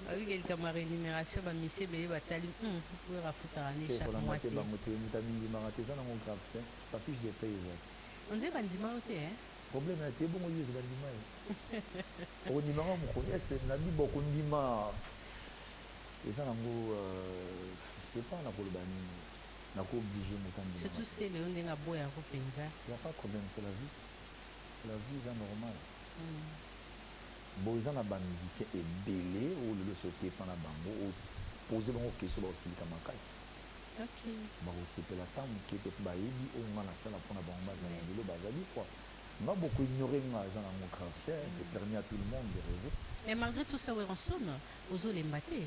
Oyebi ke likambo ya renumeration ba misie ebele batali hum werra afutaka nde Te chaque kolanda mois te te. bango te moto amindimaka te eza nango grave te ba fiche de paie eza ti. On dirait bandima yo te hein. Problème ya te ebongo yezu bandima ye okondima nga mokolo est ce nabi bokondima eza nango je sais pas nakoloba nini nako oblige moto andima nga Surtout te celeo ndenge aboya ko penza. ya pas problème c'est la vie c'est la vie eza normal. Bon eza na ba musiciens ebele oyo lelo esi oke epa na bango o poser bango question bako silika makasi. Bako sepela ata muke te po bayebi oyo nga na sala pona bango ba zala lelo ba zali quoi. Nga bo ko ignorer nga eza nango grave te c'est permis à tout le monde de rever. Mais malgre tout ça Werrason ozo lemba te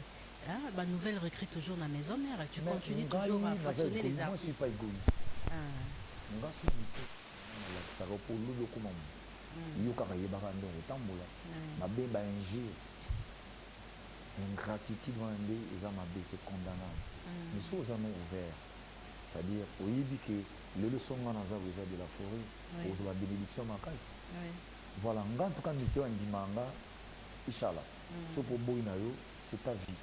hein ba nouvelles recrues toujours na maison mère tu continues toujours à façonner les artistes. Mais ngai naza egoiste moi je suis pas egoiste nga soki musicien ngai na lakisaka yo po lobi okoma mutu. mm. yo kaka yebaka nde okotambola mm. mabe ba injure ingratitude wana nde eza mabe c'est condamnable mm. mais soki oza no ouvert c'est-à-dire oyebi ke lelo so nga naza koeza de la forêt okozwa ba bénédiction makasi voilà nga ntuka misie wandimanga ishala mm. soki oboyi na yo c'est ta vie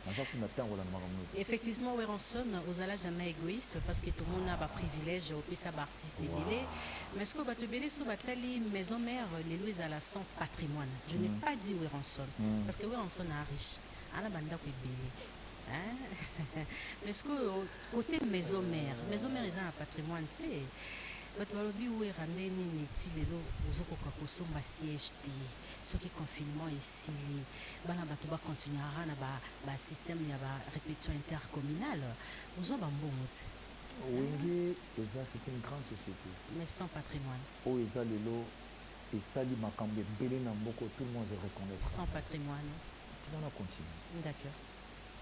naza kuna ntango na makambo nyonso effectivement weronson ozala jamais égoïste parce que tomona ba privilège opesa ba artiste ebele mais sikoyo bato ebele so batali maison mère lelo ezala sans patrimoine je n'ai mm. pas dit weronson mm. parce que weronson a riche ana bandako ebele hein? mais sikoyo côté maison mère maison mère eza na patrimoine te bato balobi wera nde nini ti lelo ozokoka kosomba siège te soki confinement esili bana bato ba continuera na ba, ba système ya ba répétition intercommunale ozwa ba mbongo ti wenge eza c'est une grande société mais sans patrimoine oyo eza lelo esali makambo ebele na mboko tout le monde se reconnaître sans patrimoine tika na continue d'accord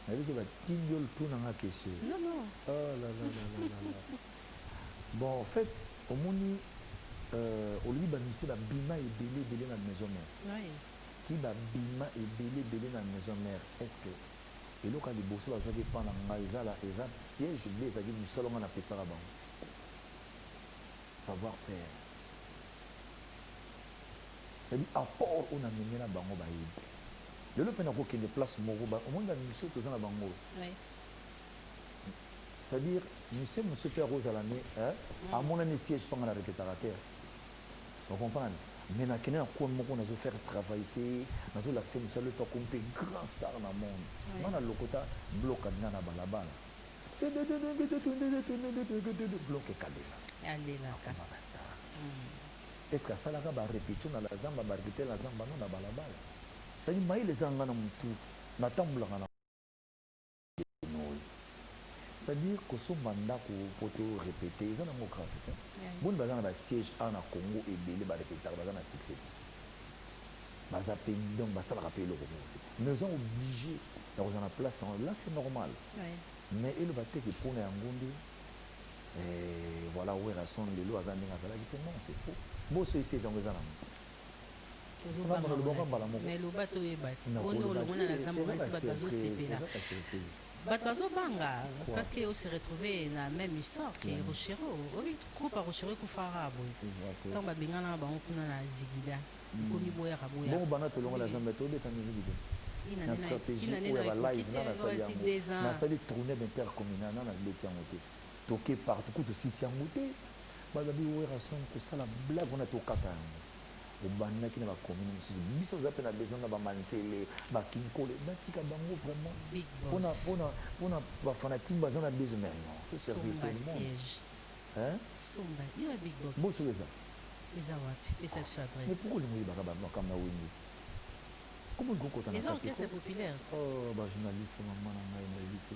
nayebi ke batindi yo ltuna nga kesio non non oh, la, la, la, la, la, la. Bon en fait omoni euh, olobi ba musiciens ba bima ebele ebele na maison mère. Oui. Ti ba bima ebele ebele na maison mère. Est ce que eloko ya liboso bazwaki epa na ngai ezala eza siège be ezalaki mosala ngai napesaka bango savoir faire cedi apport oyo namemi na bango bayebi lelo mpe nakokende place moko omoni bamisio toza na bango C'est à dire musicien mosusu mpe akozala nde eh, amonani siège mpe nga na repetaka te o comprendre mais nakende na coin moko nazo faire travail se nazolakisa ye mosala epa kompe grand star na monde nga na lokota bloka nga na balabala bloka ekalela akomaka star est ce que asalaka barepetio na la zamba barepetio na zamba no na balabala sadi maile eza nga na motu natambulaka na c'est-à-dire kosomba ndako mpo to repete eza nango grave te boni baza na basiège awa na congo ebele barepetaka baza na succès te baza mpe donc basalaka mpe eloko moko te mais oza oblige ya kozala na place yango là c'est normal mais eloba te ke mpo na yango nde eh, voilà werrason lelo aza ndenge azalaki te non c'est faux boso esiège yango eza nango tozobanga mais loba toyeba ti boni olongona na zambo kasi bato bazosepela bato bazobanga parce que ose retrouve na même histoire ke rochero obi groupe ya rochero ekufaka boye ntango babenganaka bango kuna na zigida ekomi boyaka boyabongo bana tolongola zambe tobeta miziki te na stratégie oyo ya balive nga nasali yango nasali tournée d'intercommunal nga na beti yango te Toke partout kutu osisi yango te balobi Werrason kosala blague wana tokata yango obandaki na ba commune mosusu biso toza mpe na besoin na ba manzele ba kinkole batika bango vraiment Big pona boss. pona pona ba fanatique baza na besoin mais non to servir tout Somba le monde siège. hein Somba. Yo ya big box. boso eza Eza wapi? Pesa biso mais adresse. pourquoi olingi oyebaka ba makambo ya wenge comment olingi kokota na Eza kati orchestre ko populaire. oh ba journaliste maman na ngai nayebi te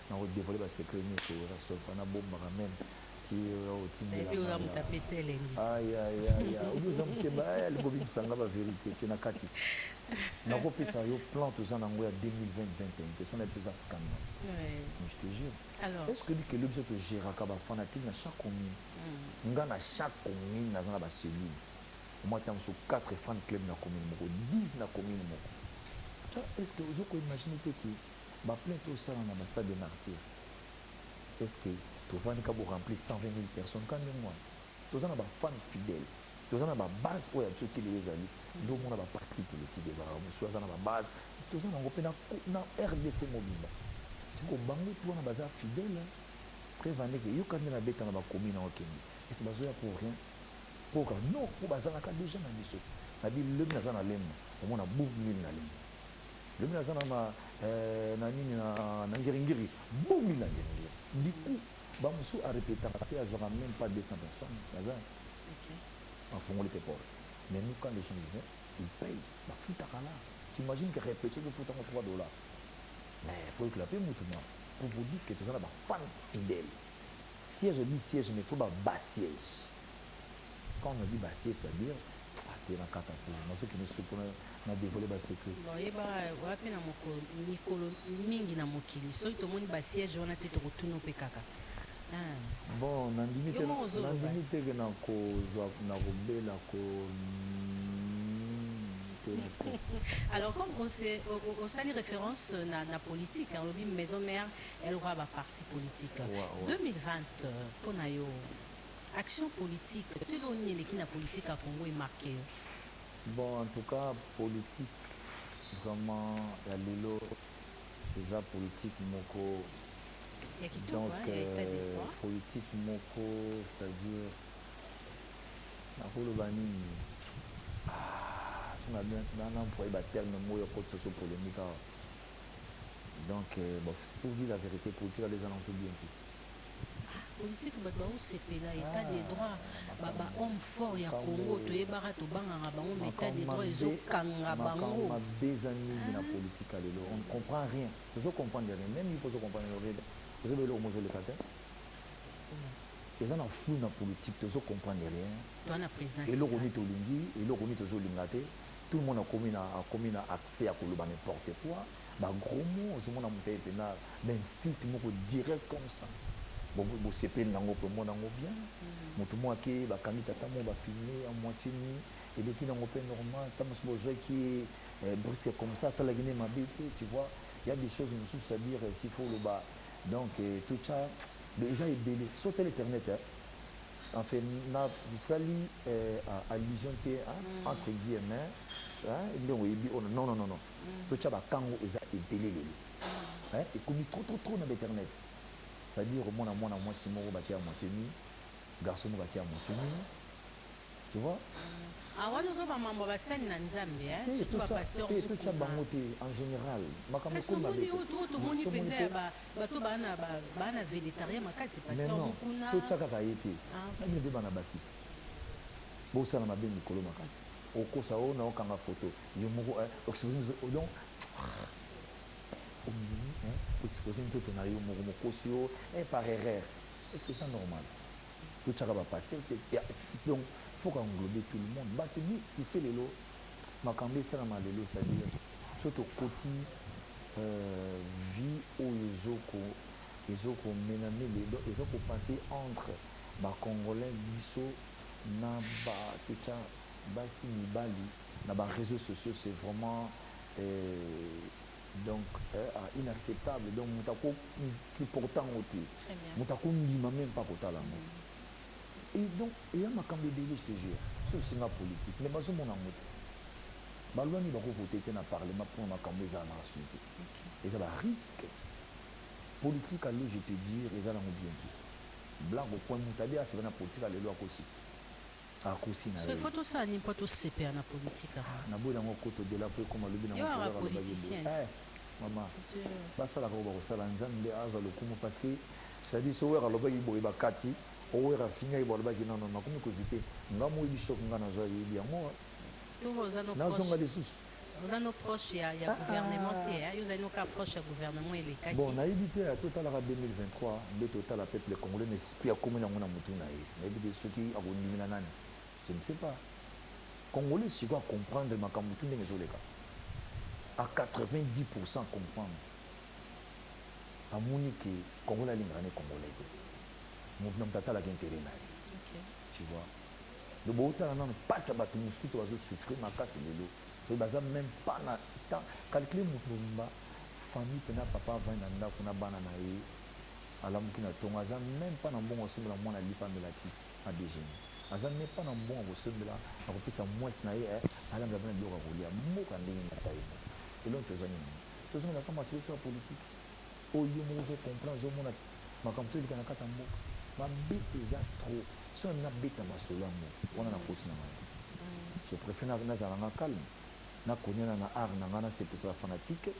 na ko devoile ba secret nyoso oyo rasolfa na bombaka meme ti otindilaoza moto apesi elengi ayayaya obi oza motema aya libobimisa nga baverité te na kati nakopesa yo plan toza na yango ya 2020 te sona toza scandale je te jure est ce que oyebi kelo biso togéraka bafanatique na chaque commune mm. nga na chaque commune naza na bacellule omwa ntango mosusu 4 fan club na commune moko 10 na commune moko est ce que ozokoimagine te ke Ba plein to sala na ba stade de martyr. Est-ce que to vani ka bo remplir 120000 personnes quand même moi? To za na ba fans fidèles. To za na ba base oyo biso ti lelo ezali. Ndo mona ba partis politiques ezala ba musu za na ba base. To za na ngo pe na na RDC mobimba. Si ko bango to wana ba za fidèles. Hein? Après vani ke yo kande na beta na ba commune na okende. Est-ce que ba zo ya pour rien? Pour ka non, pour ba za na ka déjà na biso. Na bi le na za na lemba. Omona boum mille na lemba. Lobi naza na ma eh, na nini na, na ngiringiri bomi na ngiringiri du coup bamosusu arepetaka te azwaka même pas 200 personnes naza afongoli te porte mais nous quand les gens y vont ils payent bafutaka là t'imagine que répétition tofutango 3 dollars mais faut ekela mpe mutu ma pour vous dire que toza na bafan fidèle siège bi siège mais faut baba siège quand on dit basse c'est à dire atela kaka te nazokende suku na dévoile basecret oyeba wapi na mikolo mingi na mokili soki tomoni basiège wana te tokotuna mpe kaka ah. bon nandimi te ke nakozwa nakobela ko Alors, comme on sait, au, au sali référence euh, na, na politique, hein, lobi maison mère, elle aura ba parti politique. Wow, wow. 2020, euh, pona yo, Action politique to eloko nini eleki na politique ya Congo e marquer yo? Bon en tout cas politique vraiment ya lelo eza politique moko ya kitoko donc hein, ya etat de euh, droit politique moko c'est-à-dire nakoloba nini ah, so na bien na na employer ba terme moko ya code socio polemique awa donc euh, bon, pour dire la vérité politique aleza na nso bien te politique bato baosepela état de droit baba homme fort ya congo toyebaka tobangaka bango ma état de droit ezokanga bango mabe eza mingi na politique ya lelo on ne comprend rien tozo comprendre rien même yo pozo comprendre rien ozoba eloko mozoleka te eza na flou na politique tozo comprendre rien eloko nini tolingi eloko nini tozolinga te tout le monde akomi na akomi na accès ya koloba n'importe quoi Ba gros mots ozo mona mutu aye pena ba insulte moko direct comme ça bo sepeli na ngo pe omona ngo bien mutu moko ake ba kangi tata moko ba filme en moitie nue eleki na ngo pe normal tango mosusu bo zwaki ye eh, brisque comme ça asalaki nde mabe te tu vois il y a des choses mosusu à dire eh, s'il faut oloba donc eh, tout ça eza ebele so tele internet eh, enfin nasali eh, allusion te hein, mm. entre guillemets hein, nde oyebi ona oh, non non non non totya bakango eza ebele lelo eh, ekomi trop trop trop na bainternet c'est-à-dire omona mwana mwasi moko batie ya moitié nui garçon moko atie ya moitié nui tu vois awana ah, ozo bamambo basali na nzambe eh, surtout bapastortotya bango te en général makamboomoni oyo tomoni mpenza ya bato baa na vélétarien makasi pasteur mokuna totya kaka ye te ah, na bino mpe bana basi te bosala mabe mikolo makasi okosa oyo na okanga foto yo moko eh, oexpose nzoto donc ondimi eh, oexpose nzoto na yo moko mokosi yo eh, par erreur est ce que eza normal totyaka bapaster te donc faut qu'englobe tout le monde bato ni tise lelo makambo esalama lelo c'est-à-dire so tokoti euh, vie oyo ezoko ezokomenamele donc eza kopasse entre bacongolais biso na batotya basi mibali na ba reseaux sociaux c'est vraiment eh, donc eh, ah, inacceptable donc moto ako supporte yango te moto akondima meme mpa kotala yango mm. et donc eya makambo ebele je te jure so osinga politique mais bazomona yango te balwa nini bakovote te na parlement mpona makambo ezala na rason te eza barisque politique alo je te dire eza nango bien te blague okwa moto abe aseba na politique alelo akosi Akosi na ye. Il faut tosala nini mpo tosepela na politique yango? Na boyi nango koto dela mpo ekoma lobi nango mpo kaka loba bibo. Eh mama basalaka oyo bakosala nzambe nde azwa lokumu parce que c'est à dire so werra alobaki boye bakati o werra afingaki bo alobaki non non nakomi ko eviter nga moyebi choc nga nazwa yebi yango nazonga lisusu Oza no proche ya, ya ah, gouvernement ah. te hein? Yo ozali no ka proche ya gouvernement elekaki. Bon, nayebi te ata otalaka 2023 mbeto otala peuple congolais na esprit akomi nango na mutu na ye. Nayebi te soki akondimela nani. Je ne sais pas. Congolais sikoyo acomprendre makambo tu ndenge ezoleka. A 90% comprendre. Amoni ke Congolais alingaka ne Congolais te. Mutu na mutu atalaka intérêt na ye. Okay. Tu vois? donc botala nanu mpasi ya bato mosusu bazo souffrir makasi lelo soki baza meme pas na temps calcule moto mobimba famille mpena papa avandi na ndako na bana na ye alamuki na ntongo aza meme pas na mbongo asombela mwana alipa amela ti na dejeuner aza meme pas na mbongo akosombela akopesa mwasi na ye eh, alambela bana biloko ya kolia mboka ndenge moko ye elongo tozangi nango tozongela kama solution ya politike oyo yo moko ozo comprendre ozo mona makambo to eleka na kata mboka mabe eza trop so na beta masolo yango wana na kosi na ngai je préfère na na zala nga calme na koniana na art na nga na sepesa ba fanatique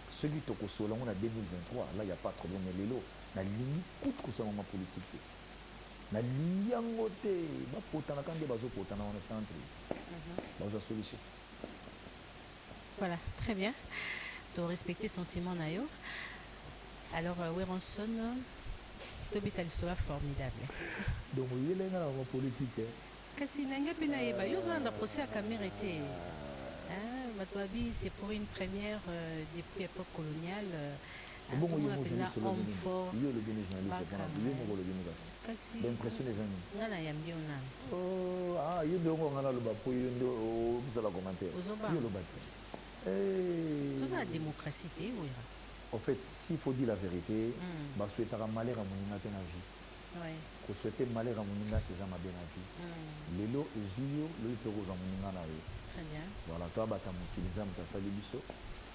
soki to kosola ngo na 2023 là il y a pas problème mais lelo na lingi kutu kosola ma politique te na lingi yango te ba potana kande bazo potana wana c'est entre mhm. bazo solution Voilà, très bien. To respecter sentiment na yo. Alors euh, Weronson tobeta lisolo formidable. Donc oyela nga na politique. Eh? Kasi na nga pe na yeba yo zana na procès ya Kamerhe te. Ah, bato babi c'est pour une première euh, depuis époque coloniale. Euh, Ebongo yo moko ozali solo nini? Yo olobi nini journaliste pona yo moko olobi nini kasi? Ba impression eza nini? Nga na yambi yo nanu. Oh ah yo nde oko nga na loba po yo nde ozala commentaire. Ozoba. Yo loba ti. Eh. Toza na democratie te wera. Au fait, s'il faut dire la vérité, mm. ba souhaitaka malheur ya moninga te na vie. Ouais. Ko souhaiter malheur ya moninga eza mabe na vie. Mm. Lelo ezui yo, lelo pe kozwa moninga na yo. Très bien. Voilà, toi bata mokili nzambe asali biso.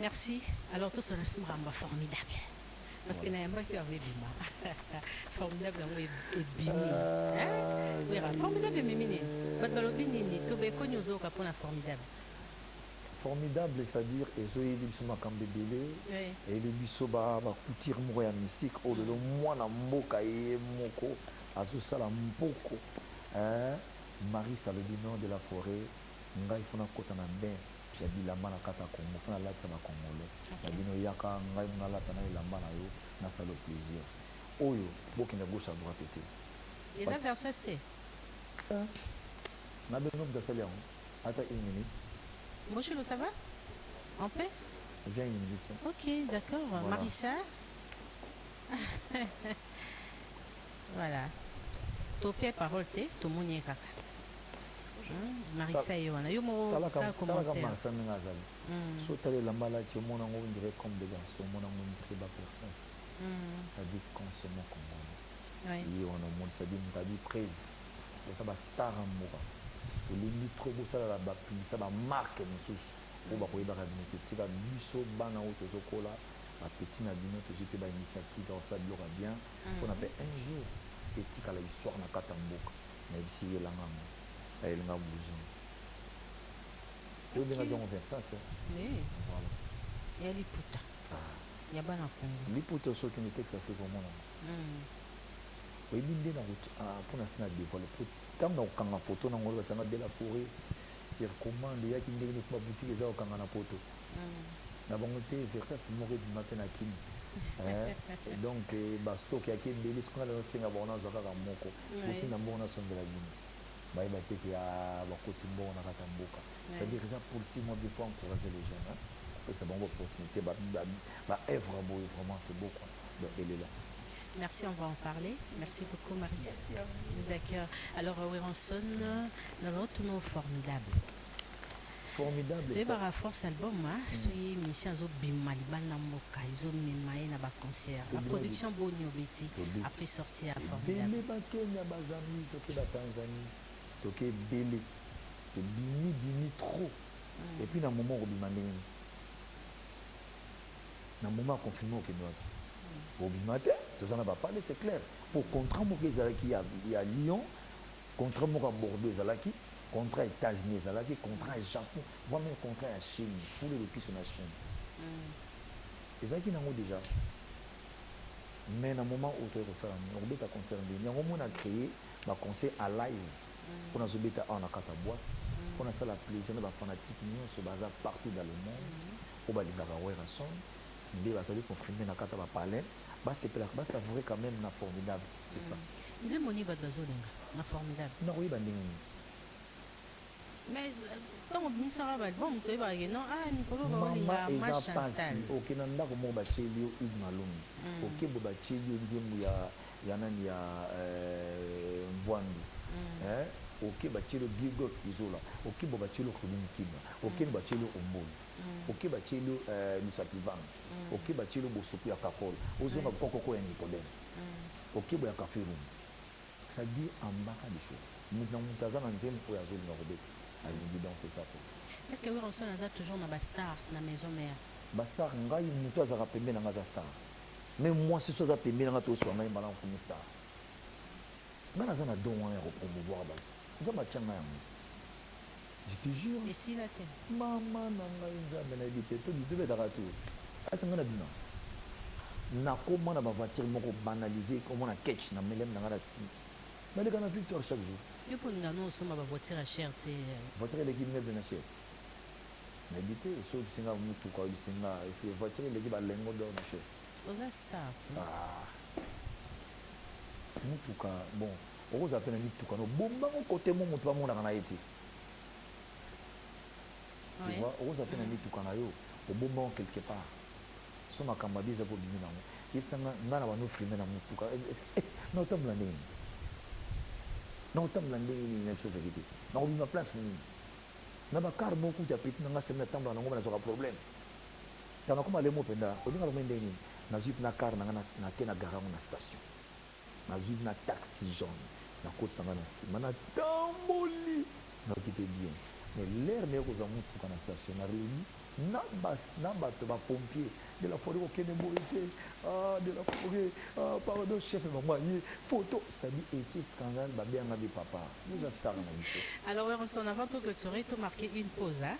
Merci. Alors tous on a mamba formidable. Parce que na yamba qui avait bima. Formidable yango ebimi. Hein? Oui, ah. formidable ememi nini? Bato balobi nini? Tobeko nyozo ka pona formidable. formidable c'est-à-dire ezoyebi biso makambo ebele eyebi biso bacoutire moko ya mystique oyo lelo mwana mboka ye moko azosala mpoko marie salobino de la forêt ngai fona kota na bain ya bilamba na kata Congo fana latisa ba congolais na bino yaka ngai muna lata na elamba na yo na salo plaisir oyo bokende gauche à droite te eza versus te euh, na bino mtasali yango ata une minute Moshilo ça va en paix viens une minute ok d'accord voilà. Marissa Voilà. Topia parole te, tomoni ye kaka. Hein? Marissa ye wana. Yo moko Talaka sa talaka commentaire. Marsa ndenge azali. Mm. So tala elamba alati omona yango on dirait comme des garçons omona yango on dirait ba princesse. Mm. Ça dit consommons congolais. Ouais. Ye wana omoni ça dit moto abi prese. Eza ba star ya mboka. Tolingi trop bosalaka ba publicité ba marque mosusu oyo bakoyebaka bino te tika biso bana oyo tozokola ba petit na bino tozwi mpe ba initiative ya kosala biloko ya bien mpona mpe un jour etikala histoire na kati ya mboka nayebisi ye elanga yango ayelinga bouson oyebenga jongo vincence voilà ya liputa ah. ya bana kongo liputa soki ni texte afrique omona hmm. oyebi nde na ah, mpona si na devoile po ntango na kokanga foto na ngolo basanga de la forêt sir commande eyaki ndenge neti babutiki eza kokanga na poto na bango te versas moko ebima mpe na kini donc eh, bastock yaki ebeli soki ngai nasenga bango nazwa kaka moko boti na mbongo nasombela bino bayeba te ke ah, bakosi mbongo na kata mboka c'est-à-dire eza politique moi bipo encourager les jeunes kopesa bango opportunité baœuvre boye vraiment c'est beau quoi donc elela Merci, on va en parler. Merci beaucoup, Marie. D'accord. Alors, euh, Werenson, nous avons tous nos formidables. Formidable. Toyebaka force album hein, mm. soki musicien azobima libanda mboka ezomema ye na baconcert baproduction boni obeti après sorti ya formidable bakenya bazambi toke batanzanie toke ebele tobimi bimi trop mm. epuis na moment okobima ndenge nini na moment ya confinement okende wapi mm. obima te toza na bapale c'est clair mpo contrat moko ezalaki ya lyon Contrat moko ya Bordeaux ezalaki, contrat ya Etats-Unis ezalaki, contrat ya Japon, voire meme contrat ya Chine, fulu lukisu na Chine. Ezalaki nango dejà. Mais na moment oyo toyei kosala nini? Okobeta concert ndenge nini? Yango moi na creer ba concerts à live mpo nazobeta awa na kati ya boîte mpo nasala plaisir na ba fanatiques nyonso baza partout dans le monde oyo balingaka Werrason nde bazali confirmer na kati ya ba palais basepelaka basavourer quand même na formidable C'est ça. nzembo nini bato bazolinga na formidable Nakoyeba ndenge nini? mais ntango obimisaka baalbum toyebaka ke non ah mikolo Mama baolinga ma eza pasi. chantal Oke na ndako moko batieli yo Hugues Malombe. Oke bo batieli yo nzembo ya ya nani ya euh, Mvuandu. Hein? Oke batieli yo Gilgoth Izola. Oke bo batieli yo Remy Mukinwa. Oke no batieli yo Ombolu. Oke batieli yo euh, Lusapi Vanga. Oke batieli yo Bosopi ya Kakol. Ozonga kokoko ya Nicodème. mm. okebo ya cafe room ça dit ambaka biso mutu na mutu aza na nzembo oyo azolinga kobeta alingi danse sapo est ce que werrason aza toujours na bastar na maison mère bastar ngai mutu azalaka pembe na ngai aza star me mwasi so aza pembe na ngai toswa ngai mbala nkomi star ngai naza na don wana ya kopromouvoir bato nzambe atya ngai yango te Je te jure. Et si la te. Maman nanga nzambe na bite to bite beta ka tu. Asa ngana bima. Na koma na ba voiture moko banaliser comme na catch na melem na ngana si. Na leka na victoire chaque jour. Yo pour nga no soma ba voiture à cher te. Voiture leki meuble na cher. Na bite so bisinga mutu ka bisinga est-ce que voiture leki ba lengo d'or na cher. Oza star. Ah. Mutu ka bon. Okozala pe na mituka no bomba ngo cote mo mutu ba monaka na ye te. Tu Oui. vois, okozala pe na mituka na yo obomba ngo quelque part. So makambo ya biza po bimi na ngo. Yebisa nga nga na bando filme na mutuka. Eh, eh, eh, na otambola ndenge nini? Na otambola ndenge nini na biso verite? Na kobima place nini? Na ba car mo kuta petit na nga semi na tambola na ngo na zoka problème. Tana kuma lemo penda olinga lomende nini? Na zip na car na nga na, na ke na gara ngo na station. Nazui na taxi jaune nakoti na nga na sima na tamboli nayoki pe bien mais l'heure naye kozwa mutuka na station na reuni na bas na bato ba pompier de la folie kokende boye te ah de la folie ah pardon chef bango aye photo c'est à dire etie scandale babe yanga be papa nous a star na biso alors werson avant to clôturer to marquer une pause hein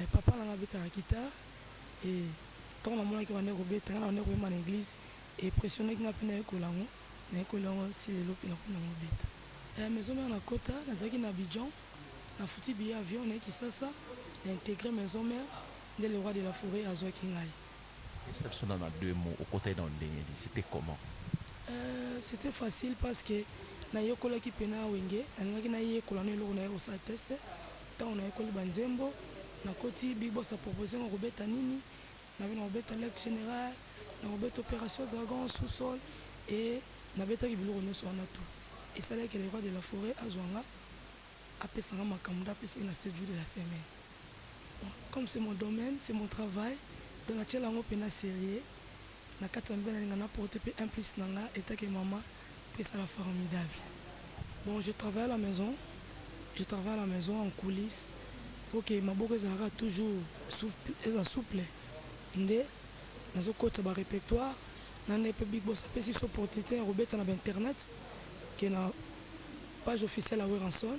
Eh papa na nga abetaka guitare eh tango na monaki abandaki kobeta nga na bandaki koyemba na eglise e impressionnaki nga pe nayekola yango nayekoli yango ti lelo pe nakomi nango obeta eh maison mère na kota nazalaki na Abidjan na futi billet avion naye kisasa na integre maison mère nde le roi de la foret azuaki ngai. Yebisa biso nanu na deux mots okotaki nanu ndenge nini c'etait comment? Eh c'etait facile parce que nayekolaki pena wenge nalingaki nayekola nanu eloko naye kosala test Tango nayekoli ba nzembo, nakoti Big Boss a proposer nga kobeta nini, nabe nakobeta Lake General, nakobeta Operation Dragon, Sous Sol et nabetaki biloko nionso wana tout. Esalaki que le Roi de la Foret azua nga, apesa nga makambo nde apesaki na Sept Jours de la Semaine. Bon, comme c'est mon domaine, c'est mon travail, donc natiela yango pena serieux. Na kati ya mibali na linga na porter pe un plus na nga etant que maman pesa na formidable bon je travaille à la maison je travaille à la maison en coulisse pour que maboko ezala kaka toujours souple eza souple nde nazo kotisa ba repertoire na nde pe big boss apesi biso opportunité ya kobeta na ba internet ke na page officielle ya Werrason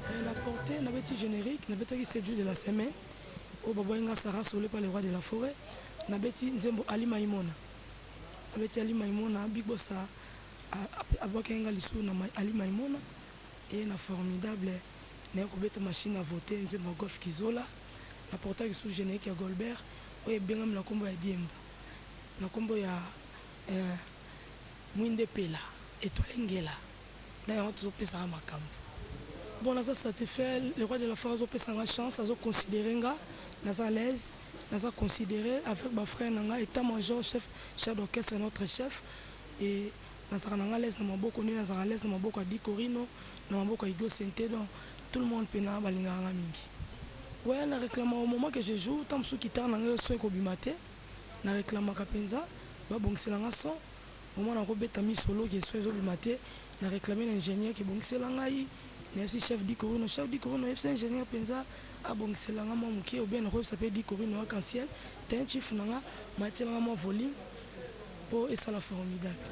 Eh, na porte nabeti générique nabetaki sedu de la semaine oyo babwaki nga sara sole pa le roi de la forêt nabeti nzembo ali maimona nabeti ali maimona big bosa abwakaki nga lisusu na ali maimona eye na formidable naye kobeta machine ya vote nzembo ya golf kizola na portaki lisusu générique ya golbert oyo ebengami na nkombo ya diembo na nkombo ya eh, mwinde pela etoile ngela na yango tozopesaka makambo bon naza satisfait le roi de la forêt azopesa nga chance azoconsidere nga naza à l'aise naza considere avec bafrère na nga état major chef chef d'orchestre notre chef et nazalaka na nga l'aise na maboko nde nazalaka l'aise na maboko ya dicorino na maboko ya igo sente donc tout le monde mpena balingaka nga mingi we na réclama au moment que je joue ntango mosusu kitare na ngai son ekobima te na réclamaka mpenza babongisela nga son Omona ko beta mi solo ke son ezo bima te na reclame na ingenieur ke bongisela ngai na yebisi chef di corino chef di corino yebisa ingenieur penza a bongisela nga mwa mukie ou bien na ko yebisa pe di corino arc en ciel tein chief na nga ma tiela nga mwa volume po esala formidable.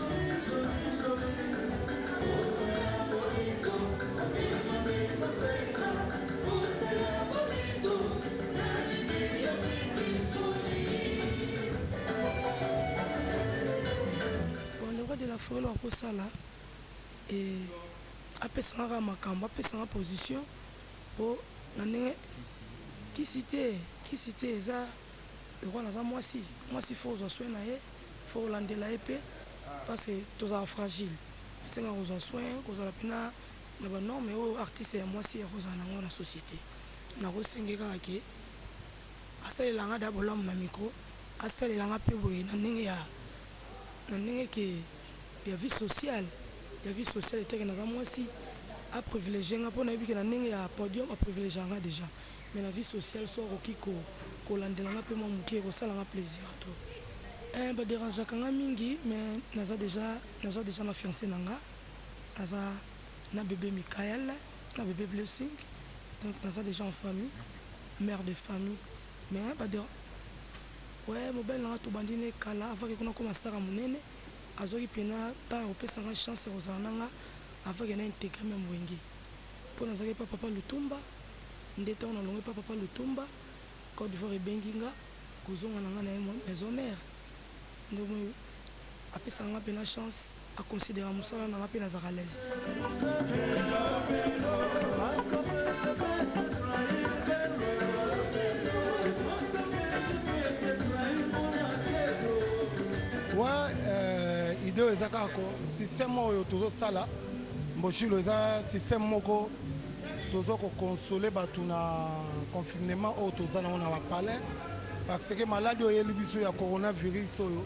felo akosala e, apesanga kaka makambo apesanga position mpo na ndenge kisi te kisi te eza lokola naza mwasi mwasi fo ozwa soin na ye faut kolandela ye mpe parce que tozala fragile esenga kozwa soin kozala mpe na na banorme oyo artiste ya mwasi ya kozala nango na société nakosenge kaka ke asalela nga da bolamu na micro asalela nga mpe boye na ndenge ya na ndenge ke ya vie sociale ya vie sociale eteke naza mwasi aprivilegie nga mpo nayebi ke na ndenge ya podium aprivilegianga déjà Mais na vie sociale so akoki ko kolandela nga pe mwa moke ekosala nga plaisir to eh, ba derangeaka nga mingi mais naza deja naza deja na fiancé na nga naza na bébé Michael na bébé Blessing donc naza deja en famille mère de famille mais ba derange ouais mobali na nga tobandi ne kala avant ke kuna koma stara monene azwaki mpena ntango ya kopesa nga chance ya kozala na nga avant ke na integre meme wenge Mpo nazalaki epai Papa Lutumba, nde ntango nalongwe epai Papa Lutumba, Cote d'Ivoire ebengi nga kozonga na nga na ye maison mère. Nde omoni apesaka nga mpena chance, aconsidera mosala na nga mpe nazalaka à l'aise. Wa euh, ideo eza kaka ko système oyo tozosala Mboshilo eza système moko tozo ko consoler batu na confinement oyo toza nango na bapalais parce que maladi oyo eyeli biso ya coronavirus oyo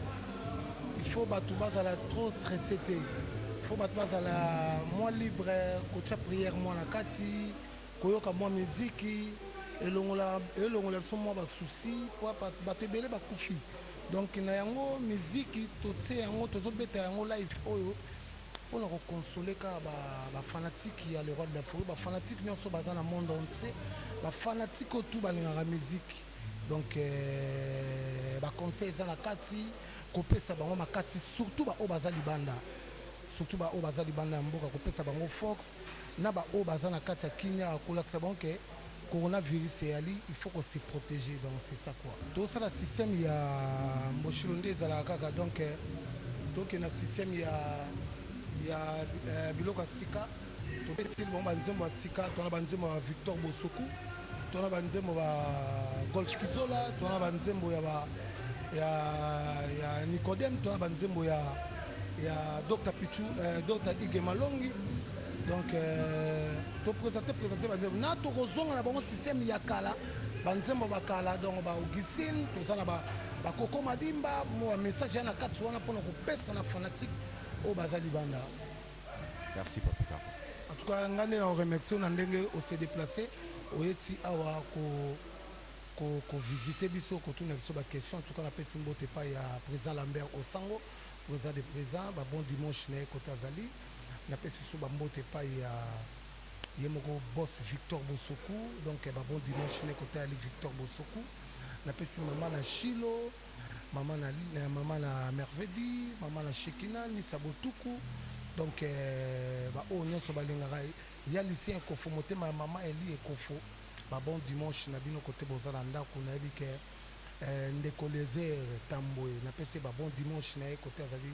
il faut batu bazala trop stresse te il faut batu bazala mwa libre kotya prière mwa na kati koyoka mwa miziki elongola elongola biso mwa basusi mpo bato ebele bakufi donc na yango miziki totie yango tozobeta yango live oyo pona ko consoler ka ba ba fanatiques ya le roi de la forêt ba fanatiques nionso baza na monde entier ba fanatiques oyo tout balingaka musique donc euh, ba conseil eza na kati kopesa bango makasi surtout baoyo baza libanda surtout baoyo baza libanda ya mboka kopesa bango fox na baoyo baza na kati ya kimia kolakisa bango ke Corona virus eyali il faut ko se proteger donc c'est ça quoi. Tosala système ya mboshilo nde ezalaka kaka donc euh, toke na système ya ya euh, biloko ya sika tobetili bango banzembo ya sika tona banzembo ya Victor Bosoku tona banzembo ba Golf Kizola tona banzembo ya ba ya ya Nicodem tona banzembo ya ya Dr Pichu euh, Dr Ige Malongi donc euh, topresente presente banzembo na tokozonga na bango systeme ya kala banzembo bakala donc ba augustine toza na bakoko madimba bamessage ya na kati wana mpona kopesa na fanatique oyo baza libanda merci papika en tout cas ngai nde na oremercie na ndenge ose déplace oyeti awa kovisite biso kotuna biso baquestion en tout cas napesi mbote epai ya président lambert osango président de président babon dimanche na ye kote azali Na pesi lisusu ba mbote epayi ya ye moko boss Victor Bosoku donc ba bon dimanche ne ko tayali Victor Bosoku. Na pesi mama na Shilo, mama na mama na Mervedi, mama na Shekina, Nisa Botuku donc ba oyo nionso ba lingaka ya Lucien Ekofo motema ya mama Eli Ekofo ba bon dimanche na bino kote boza na ndaku na yebi ke ndeko Eliezer Tambwe na pesi ye ba bon dimanche na ye kote azali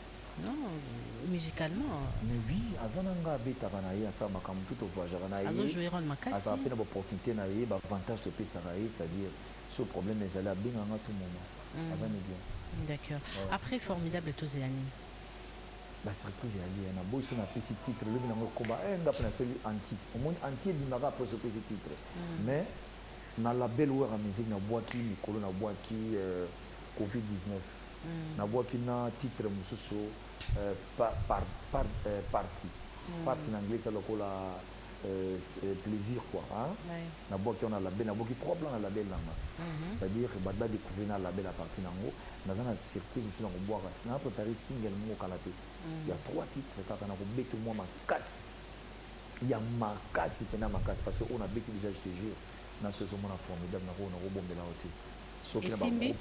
Non, musicalement. Mais oui, aza na nga abetaka na ye asala makambo tout ovoyagaka na ye. Azo jouer rôle makasi. Aza pe na ba opportunité na ye, ba avantage topesaka ye, c'est-à-dire so problème ezali abenga nga tout moment. Mm. Aza ni bien. D'accord. Ouais. Après formidable tozela nini? Ba surprise ya liya na boyi so na pesi titre lobi na ngo koba eh nga pe na seli anti. Omoni anti ebimaka après so pesi titre. Mm. Mais na label wera musique na bwaki mikolo na bwaki euh, covid 19 mm. nabwaki na titre mosusu euh, par, par, par, euh, parti mm. parti na anglais eza lokola euh, euh, plaisir quoi hein? oui. nabwaki wana label nabwaki trois plan na label nanga mm -hmm. c'est à dire bato badécouvrir na label à partir nango naza na surprise mosusu na kobwaka na préparé single moko kala te mm. ya trois titre kaka na kobete mwa makasi ya makasi mpena makasi parce que oyo nabeti déjà je te jure na soki ezomona formidable nakoyo nakobombela yo te soki na esimbi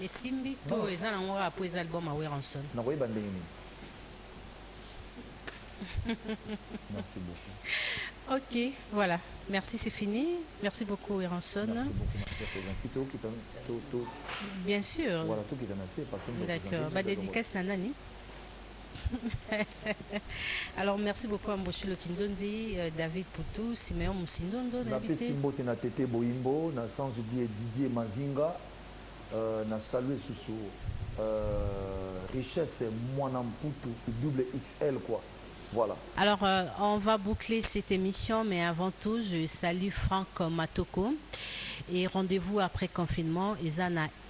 esimbi to eza nango kaka mpo eza album ya weranson nakoyeba ndenge nini merci beaucoup ok voilà merci c'est fini merci beaucoup weranson merci beaucoup ma chère Sylvain kito kita to to bien sûr voilà to kita na se parce que d'accord ba dédicace na nani Alors merci beaucoup à Mboshilo Kinzondi, euh, David Poutou, Simeon Moussindondo. Na pesi mbote na Tete Boimbo, na sans oublier Didier Mazinga, euh, na salue susu euh, richesse mwana mputu double XL quoi. Voilà. Alors, euh, on va boucler cette émission, mais avant tout, je salue Franck Matoko. Et rendez-vous après confinement, Isana